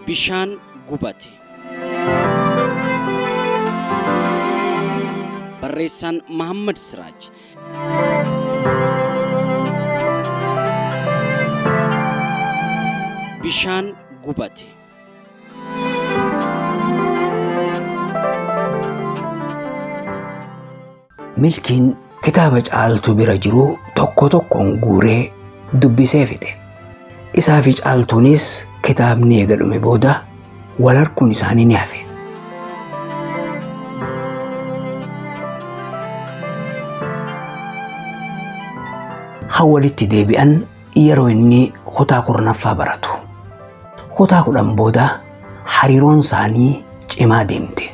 Bishaan gubate. Barreessaan Mahammad Siraaj. Bishaan gubate. Milkiin kitaaba caaltuu bira jiru tokko tokkoon guuree dubbisee fixe. Isaa fi caaltuunis kitaabni eega dhume booda wal harkuun isaanii ni hafe. Haa walitti deebi'an yeroo inni kutaa kurnaffaa baratu. Kutaa kudhan booda hariiroon isaanii cimaa deemte.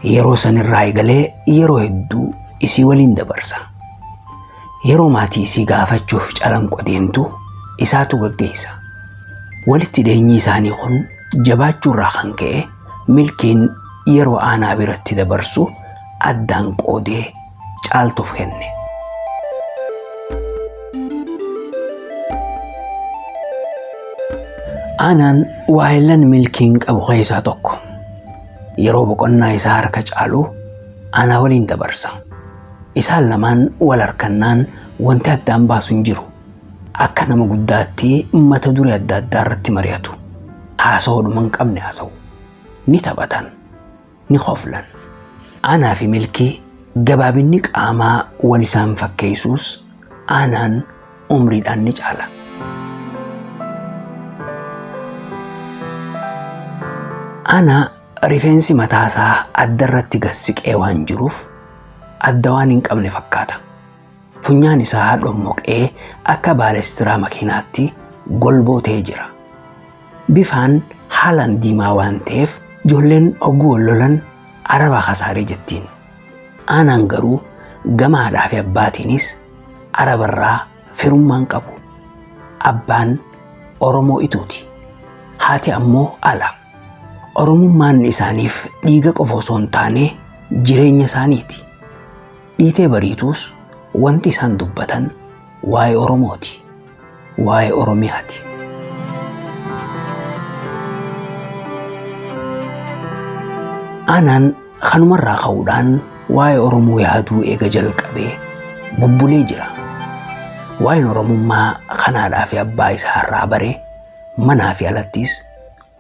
Yeroo san irraa eegalee yeroo hedduu isii waliin dabarsa. Yeroo maatii isii gaafachuuf calanqo deemtu isaatu gaggeessa. Walitti dhiyeenyi isaanii kun jabaachuu irraa kan ka'e milkiin yeroo aanaa biratti dabarsu addaan qoodee caaltuuf kenne. Aanaan waayillan milkiin qabu keessaa tokko. Yeroo boqonnaa isaa harka caalu aanaa waliin dabarsa. Isaan lamaan wal harkannaan wanti addaan baasu hin jiru. Akka nama guddaatti mata duree adda addaa irratti mari'atu. Haasawaa dhuma hin qabne haasa'u. Ni taphatan. ni koflan. Aanaa fi milkii gabaabinni qaamaa wal isaan fakkeessuus aanaan umriidhaan ni caala. Aanaa rifeensi mataasaa addarratti gad siqee waan jiruuf adda waan hin qabne fakkaata. Funyaan isaa dhommoqee akka baaleestiraa makiinaatti golboo ta'ee jira. Bifaan haalaan diimaa waan ta'eef ijoolleen hogguu wal lolan araba kasaaree jettiin. Aanaan garuu gama haadhaa fi abbaatiinis arabarraa firummaan qabu. Abbaan Oromoo ituuti. Haati ammoo ala. Oromummaan isaaniif dhiiga qofa osoo hin taane jireenya isaaniiti. Dhiitee bariituus wanti isaan dubbatan waa'ee Oromooti. Waa'ee Oromiyaati. Anaan kanumarraa ka'uudhaan waa'ee Oromoo yaaduu eega jalqabee bubbulee jira. Waa'een Oromummaa kanaadhaa fi abbaa isaa irraa bare manaa fi alattis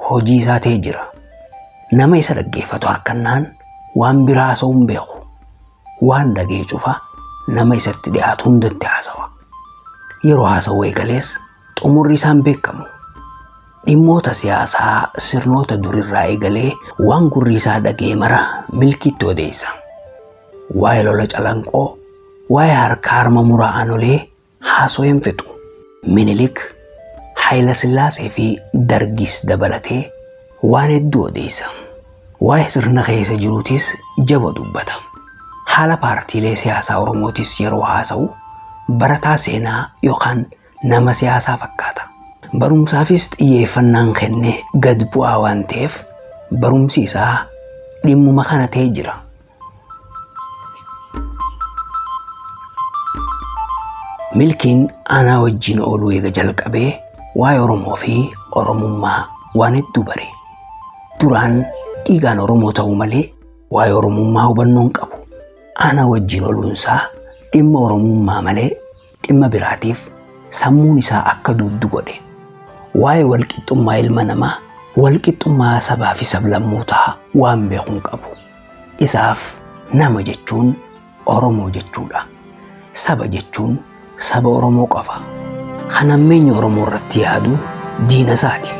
hojii isaa ta'ee jira. Nama isa dhaggeeffatu harkannaan waan biraa haasa'uu hin beeku. waan dhaga'e cufa nama isatti dhiyaatu hundatti haasawa. Yeroo haasawu eegalees xumurri isaan beekamu. Dhimmoota siyaasaa sirnoota durirraa eegalee waan gurri isaa dhaga'e mara milkiitti odeessa. Waa'ee lola calanqoo, waa'ee harka harma muraa aanolee, Haasoo hin fixu. Minilik, Hayilasillaasee fi Dargiis dabalatee waan hedduu odeessa. Waa'ee sirna keessa jiruutis jaba dubbata. Haala paartiilee siyaasaa Oromootis yeroo haasa'u barataa seenaa yookaan nama siyaasaa fakkaata. Barumsaafis xiyyeeffannaan kenne gad bu'aa waan ta'eef barumsi isaa dhimmuma kana ta'ee jira. Milkiin anaa wajjin ooluu eega jalqabee waa'ee Oromoo fi Oromummaa waan hedduu bare. Duraan dhiigaan Oromoo ta'uu malee waa'ee Oromummaa hubannoo hin qabu. Anaa wajjin ooluunsaa dhimma Oromummaa malee dhimma biraatiif sammuun isaa akka duuddu godhe. Waa'ee walqixxummaa ilma namaa, walqixxummaa sabaa fi sablammootaa waan beeku hin qabu. Isaaf nama jechuun Oromoo jechuudha. Saba jechuun saba Oromoo qofa. Kan hammeenyi Oromoo irratti yaadu diina isaati.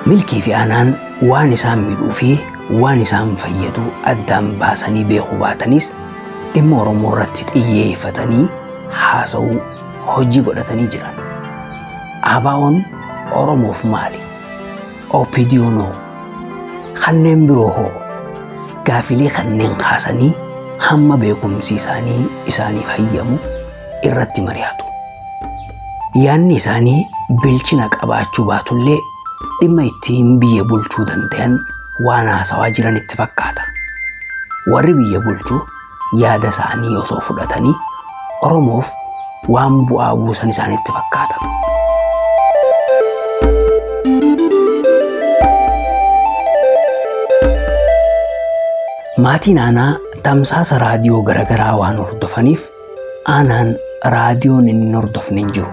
Milkii fi aanaan waan isaan midhuu fi waan isaan fayyadu addaan baasanii beekuu baatanis dhimma Oromoo irratti xiyyeeffatanii haasa'uu hojii godhatanii jiran. ABOn Oromoof maali? OPDOn hoo? Kanneen biroo hoo? Gaafilee kanneen kaasanii hamma beekumsi isaanii isaaniif hayyamu irratti mari'atu. Yaanni isaanii bilchina qabaachuu baatullee dhimma ittiin biyya bulchuu danda'an waan haasawaa jiran itti fakkaata. Warri biyya bulchu yaada isaanii osoo fudhatanii Oromoof waan bu'aa buusan isaanitti fakkaata. Maatiin aanaa tamsaasa raadiyoo garaagaraa waan hordofaniif Anaan raadiyoon inni hin hordofne hin jiru.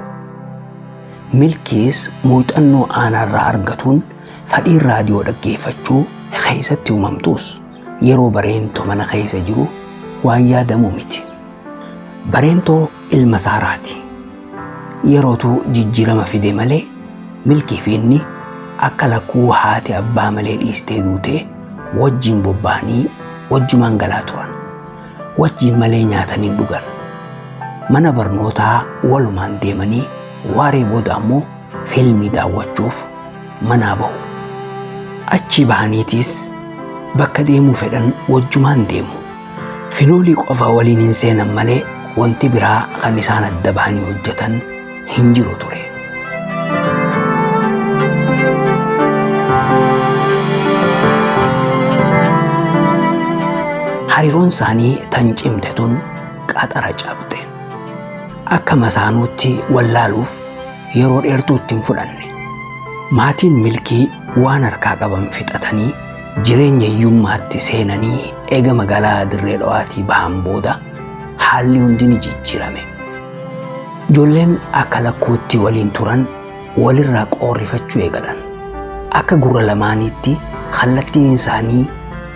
Milkiis muuxannoo aanaarraa argatuun fadhiin raadiyoo dhaggeeffachuu keessatti uumamtuus yeroo bareentoo mana keessa jiru waan yaadamu miti. Bareentoo ilma saaraati. Yerootu jijjiirama fide malee milkii fi inni akka lakkuu haati abbaa malee dhiistee duutee wajjin bobba'anii wajjumaan galaa turan. wajjiin malee nyaatanii dhugan. Mana barnootaa walumaan deemanii waaree booda ammoo fiilmii daawwachuuf manaa bahu. Achii bahaniitiis bakka deemuu fedhan wajjumaan deemu. Finoolii qofa waliin hin seenan malee wanti biraa kan isaan adda bahanii hojjetan hin jiru ture. Hariiroon isaanii tan cimte tun qaxara cabxe. Akka masaanuutti wallaaluuf yeroo dheertuu itti hin fudhanne. Maatiin milkii waan harkaa qaban fixatanii jireenya hiyyummaatti seenanii eega magaalaa dirree dhawaatii bahan booda haalli hundi ni jijjiirame. Ijoolleen akka lakkuutti waliin turan walirraa qoorrifachuu eegalan. Akka gurra lamaaniitti kallattiin isaanii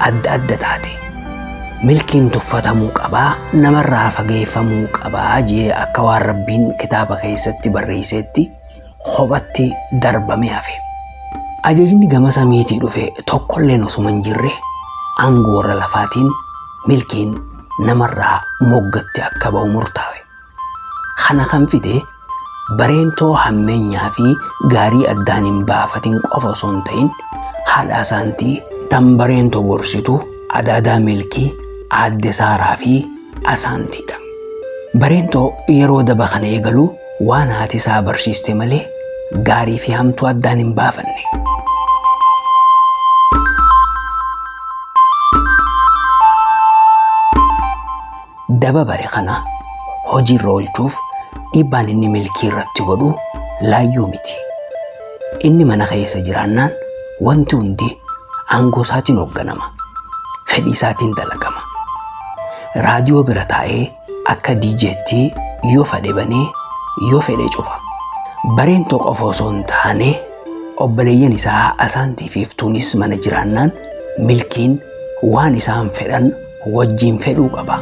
adda adda taate. Milkiin tuffatamuu qabaa namarraa fageeffamuu qabaa jee akka waan rabbiin kitaaba keessatti barreesseetti kophatti darbamee hafe. Ajajni gama samiitii dhufe tokkolleen osuma hin jirre aangoorra lafaatiin milkiin namarraa moggatti akka ba'u murtaawe. Kana kan fide bareentoo hammeenyaa fi gaarii addaan hin baafatin qofa osoo hin ta'in haadhaa isaantii tan bareentoo gorsitu adaadaa milkii aadde saaraa fi Asaantiidha. Bareentoo yeroo daba kana eegalu waan haati isaa barsiiste malee gaarii fi hamtuu addaan hin baafanne. Daba bare kana hojiirra oolchuuf dhiibbaan inni milkii irratti godhu laayyoo miti. Inni mana keessa jiraannaan wanti hundi aangoo isaatiin hoogganama. Fedhii isaatiin dalagama. Raadiyoo bira taa'ee akka DJtti yoo fedhe banee yoo fedhe cufa. Bareen tokko qofa osoo hin taane obboleeyyan isaa Asaantii fi Iftuunis mana jiraannaan milkiin waan isaan fedhan wajjiin fedhuu qaba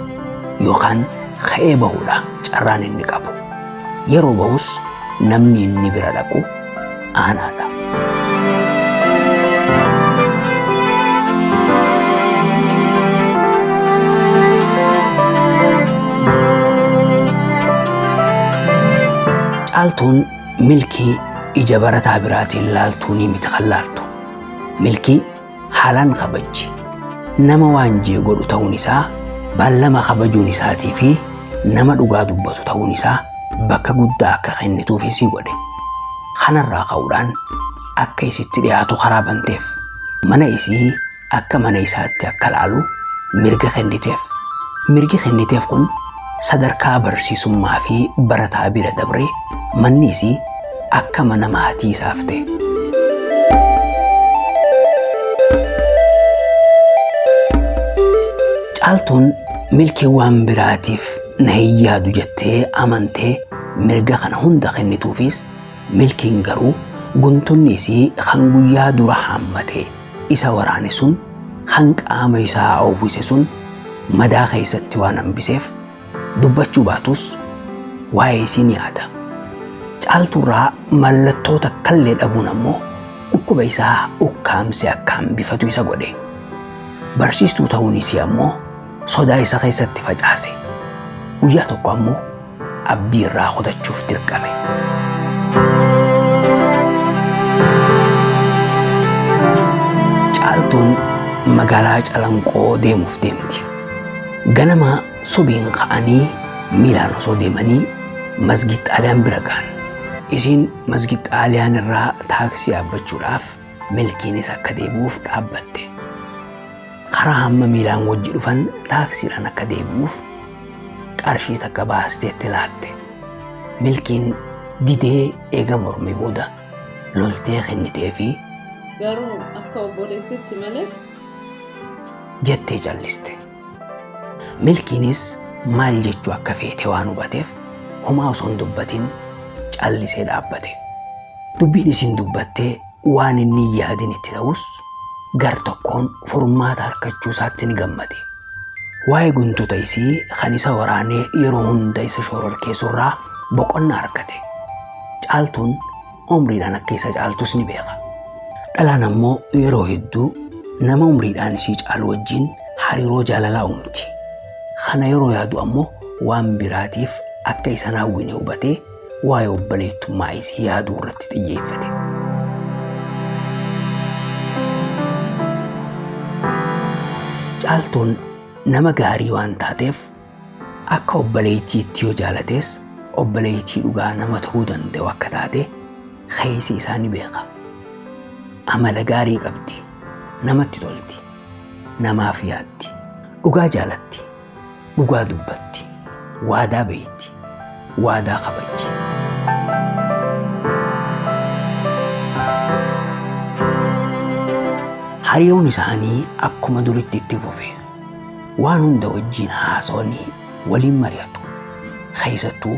yookaan ka'ee bahuudha carraan inni qabu. Yeroo bahus namni inni bira dhaqu aanaadha. Caaltuun milkii ija barataa biraatiin laaltuu ni miti kan laaltu. Milkii haalaan kabajji. Nama waan jee godhu ta'uun isaa, baallama kabajuun isaatii fi nama dhugaa dubbatu ta'uun isaa bakka guddaa akka kennituuf isii godhe. Kanarraa ka'uudhaan akka isitti dhiyaatu karaa banteef. Mana isii akka mana isaatti akka laalu mirga kenniteef. Mirgi kenniteef kun Sadarkaa barsiisummaa fi barataa bira dabree manni isii akka mana maatii isaaf ta'e. Caaltuun milkii waan biraatiif na hin yaadu jettee amantee mirga kana hunda kennituufis milkiin garuu guntunni isii kan guyyaa dura haammatee Isa waraane sun kan qaama isaa oowwise sun madaa keessatti waan hambiseef dubbachuu baatus waa'ee isii ni yaada. Caaltuurraa mallattoo takkallee dhabuun ammoo dhukkuba isaa ukkaamsee akka hambifatu isa godhe. Barsiistuu ta'uun isii ammoo sodaa isa keessatti facaase. Guyyaa tokko ammoo abdii irraa kutachuuf dirqame. Caaltuun magaalaa Calanqoo deemuuf deemti. Ganama subiin ka'anii miilaan osoo deemanii masgid xaaliyaan bira ga'an. Isiin masgid xaaliyaan irraa taaksii yaabbachuudhaaf Milkiinis akka deebi'uuf dhaabbatte. Karaa hamma miilaan wajji dhufan taaksiidhaan akka deebi'uuf qarshii takka baasteetti laatte. Milkiin didee eega mormee booda loltee kennitee fi Garuu akka obboleettiitti malee. jettee calliste. Milkiinis maal jechuu akka feete waan hubateef homaa osoo hin dubbatin callisee dhaabbate. Dubbiin isin dubbattee waan inni hin yaadin itti ta'us gar tokkoon furmaata harkachuu isaatti ni gammade. Waa'ee guntuta isii kan isa waraanee yeroo hunda isa shororkeessurraa boqonnaa argate. Caaltuun umriidhaan akka isa caaltus ni beeka. Dhalaan ammoo yeroo hedduu nama umriidhaan isii caalu wajjin hariiroo jaalalaa uumti. Kana yeroo yaadu ammoo waan biraatiif akka isa naawwine hubatee waa'ee obboleettummaa isii yaaduu irratti xiyyeeffate. Caaltuun nama gaarii waan taateef Akka obboleettiitti yoo jaalates obboleettii dhugaa nama ta'uu danda'u akka taate keessi isaa ni beeka. Amala gaarii qabdi, namatti tolti, namaaf yaaddi, dhugaa jaalatti, dhugaa dubbatti, waadaa beekti, waadaa kabajji. Hariiroon isaanii akkuma duritti itti fufe. waan hunda wajjiin haasawanii waliin mari'atu. Keessattuu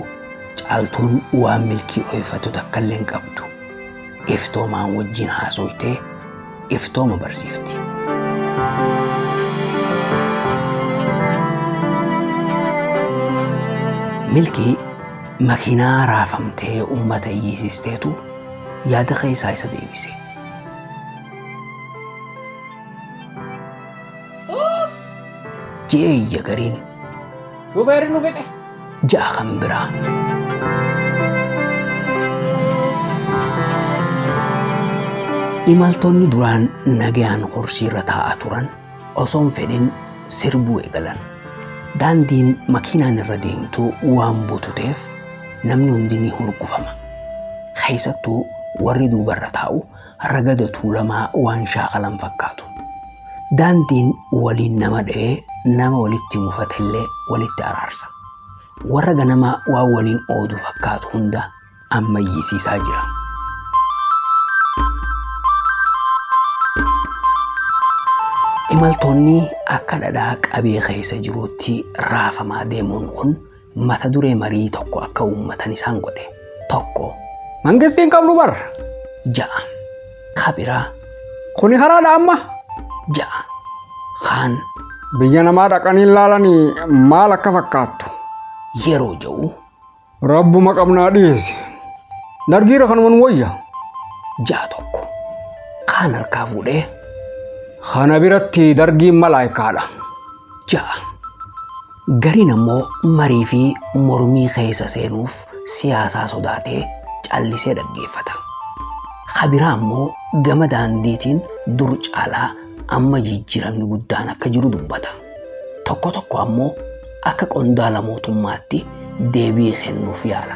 caaltuun waan milkii ooyifatu takka illee hin qabdu. Iftoomaan wajjiin haasooytee iftooma barsiifti. Milkii makiinaa raafamtee uummata iyyisiisteetu yaada keessaa isa deebise. Jee iyya gariin. Shufeerri nu fixe. Ja'a kan biraa. Imaltoonni duraan nagayaan horsiirra taa'aa turan osoon fedhin sirbuu eegalan. Daandiin makiinaan irra deemtu waan bututeef namni hundi ni hurgufama. Keessattuu warri duubarra taa'u ragada tuulamaa waan shaakalan fakkaatu. Daandiin waliin nama dha'ee nama walitti mufatellee walitti araarsa. Warra ganamaa waan waliin oodu fakkaatu hunda ammayyisiisaa jira. Imaltoonni akka dhadhaa qabee keessa jiruutti raafamaa deemuun kun mata duree marii tokko akka uummatan isaan godhe tokko. Mangistii hin qabnu bar. Ja'a. Kabiraa. Kuni haraadha amma. Ja'a. Kaan. Biyya namaa dhaqanii laalanii maal akka fakkaattu. Yeroo ja'u. Rabbuma qabnaa dhiyeesse. Dargiira kanuma nu wayya. Ja'a tokko. Kaan harkaa fuudhee. Kana biratti dargiin malaayikaadha. ja'a. Gariin ammoo marii fi mormii keessa seenuuf siyaasaa sodaatee callisee dhaggeeffata. Ka biraa ammoo gama daandiitiin dur caalaa amma jijjiiramni guddaan akka jiru dubbata. Tokko tokko ammoo akka qondaala mootummaatti deebii kennuuf yaala.